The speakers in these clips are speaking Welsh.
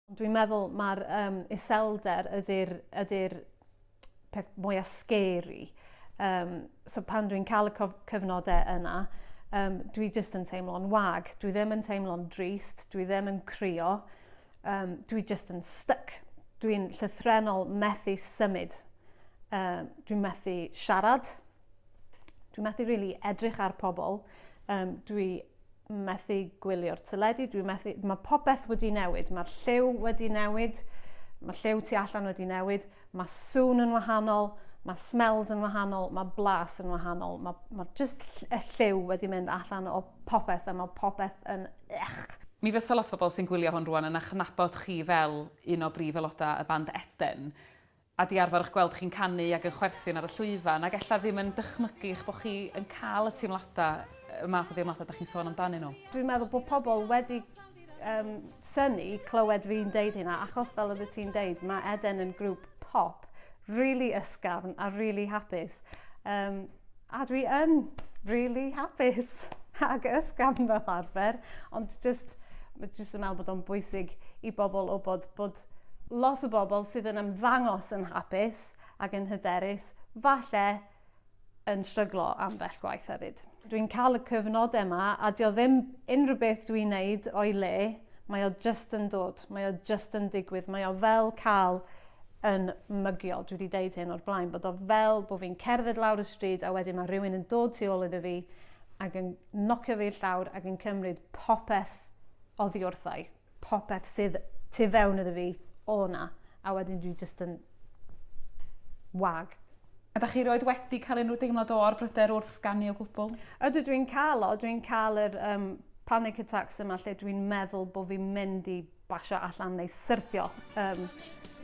Ond dwi'n meddwl mae'r um, iselder ydy'r ydy peth mwyaf scary. Um, so pan dwi'n cael y cyfnodau yna, um, dwi jyst yn teimlo'n wag. Dwi ddim yn teimlo'n drist, dwi ddim yn crio, um, dwi jyst yn stuck. Dwi'n llythrenol methu symud. Um, dwi'n methu siarad, Dwi methu really edrych ar pobl. Um, dwi methu gwylio'r teledu. Dwi methu... Mae popeth wedi newid. Mae'r lliw wedi newid. Mae lliw tu allan wedi newid. Mae sŵn yn wahanol. Mae smells yn wahanol. Mae blas yn wahanol. Mae, mae just y lliw wedi mynd allan o popeth a mae popeth yn... Ech. Mi fysa lot o bobl sy'n gwylio hwn rwan yn achnabod chi fel un o brif aelodau y band Eden. a di arfer ych gweld chi'n canu ac yn chwerthin ar y llwyfan ac ella ddim yn dychmygu eich bod chi yn cael y teimladau, y math o deimladau dach chi'n sôn amdanyn nhw. Dwi'n meddwl bod pobl wedi um, syni clywed fi'n deud hynna achos fel oeddet ti'n deud mae Eden yn grŵp pop really ysgafn a really hapus. Um, A dwi yn really hapus ac ysgafn fel arfer, ond just, just yn meddwl bod o'n bwysig i bobl o bod, bod lot o bobl sydd yn ymddangos yn hapus ac yn hyderus, falle yn stryglo am bell gwaith hefyd. Dwi'n cael y cyfnod yma a dio ddim unrhyw beth dwi'n neud o'i le, mae o just yn dod, mae o just yn digwydd, mae o fel cael yn mygiol. Dwi wedi deud hyn o'r blaen, bod o fel bod fi'n cerdded lawr y stryd a wedyn mae rhywun yn dod tu ôl iddo fi ac yn nocio fi i'r llawr ac yn cymryd popeth oddi wrthau, popeth sydd tu fewn iddo fi o na, a wedyn dwi jyst yn wag. Ydych chi roed wedi cael unrhyw deimlad o o'r bryder wrth ganu o gwbl? Ydw, dwi'n cael o. Dwi'n cael yr um, panic attacks yma lle dwi'n meddwl bod fi'n mynd i basio allan neu syrthio. Um,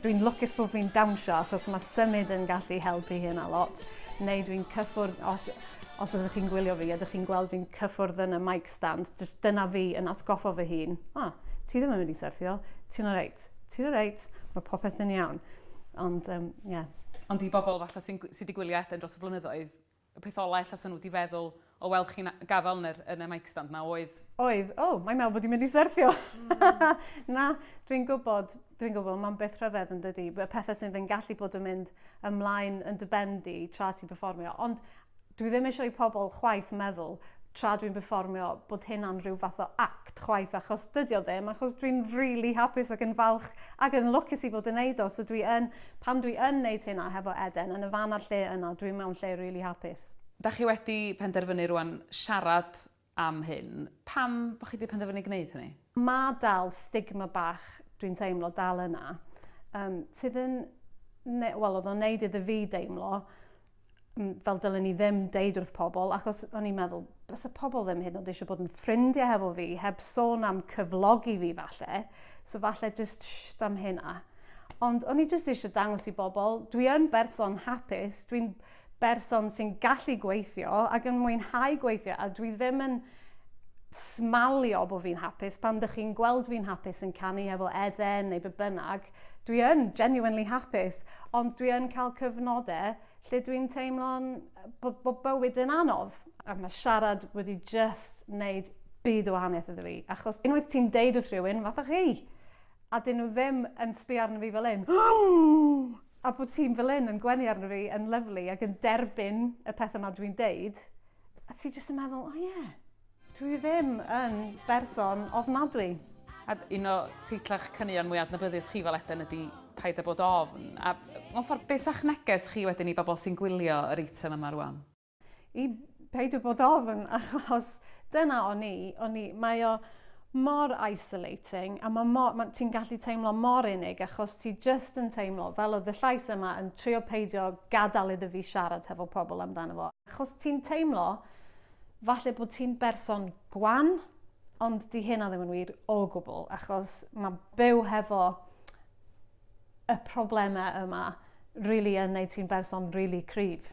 dwi'n lwcus bod fi'n dawnsio achos mae symud yn gallu helpu hyn a lot. Neu dwi'n cyffwrdd, os, os ydych chi'n gwylio fi, ydych chi'n gweld fi'n cyffwrdd yn y mic stand, just dyna fi yn atgoffa fy hun. O, oh, ti ddim yn mynd i syrthio, ti'n o reit, ti'n o reit, mae popeth yn iawn. Ond, um, yeah. Ond i bobl falle sy'n sy wedi gwylio Eden dros y blynyddoedd, Y peth ola ella 'sa nhw 'di feddwl o weld chi'n gafal yn yr, yn y mic stand 'na oedd... Oedd, o, mae'n meddwl bod hi'n mynd i syrthio. Na, dwi'n gwybod, dwi'n gwybod, mae'n beth rhyfedd yn dydy, y pethau sydd yn gallu bod yn mynd ymlaen yn dy ben di tra ti'n performio. Ond dwi ddim eisiau i pobl chwaith meddwl tra dwi'n performio bod hynna'n rhyw fath o act. chwaith achos dydi o ddim achos dwi'n rili hapus ac yn falch ac yn lwcus i fod yn neud o so dwi yn pan dwi yn neud hynna hefo Eden yn y fan a'r lle yna dwi mewn lle rili hapus. Dach chi wedi penderfynu rwan siarad am hyn, pam bo chi di penderfynu gneud hynny? Ma dal stigma bach dwi'n teimlo dal yna yym sydd yn ne- wel o'dd o'n neud iddo fi deimlo mm, fel dylen ni ddim deud wrth pobl, achos o'n i'n meddwl, bys y pobl ddim hyn ond eisiau bod yn ffrindiau hefo fi, heb sôn am cyflogi fi falle, so falle jyst sht am hynna. Ond o'n i jyst eisiau dangos i bobl, dwi yn berson hapus, dwi'n berson sy'n gallu gweithio ac yn mwynhau gweithio a dwi ddim yn smalio bod fi'n hapus pan dych chi'n gweld fi'n hapus yn canu efo Eden neu be bynnag, dwi yn genuinely hapus, ond dwi yn cael cyfnodau lle dwi'n teimlo'n bod bo bywyd yn anodd. A mae siarad wedi just wneud byd o wahaniaeth iddo fi, achos unwaith ti'n deud wrth rhywun, fatha chi, a dyn nhw ddim yn sbio arno fi fel hyn, a bod ti'n fel hyn yn gwenu arno fi yn lyfli ac yn derbyn y pethau yma dwi'n deud, a ti just yn meddwl, o ie, Dwi ddim yn berson ofnadwy. Ad, un o teitlau'ch caneuon mwy adnabyddus chi fel Eden ydy Paid â bod ofn, a mewn ffordd be sa'ch neges chi wedyn i bobl sy'n gwylio yr eitem yma rwan? I peidio bod ofn achos dyna o'n i, o'n i, mae o mor isolating a mae mor, ma, ti'n gallu teimlo mor unig achos ti just yn teimlo fel oedd y llais yma yn trio peidio gadael iddo fi siarad hefo pobl amdano fo achos ti'n teimlo Falle bod ti'n berson gwan, ond di hynna ddim yn wir o gwbl, achos mae byw hefo y problemau yma really yn neud ti'n berson really cryf.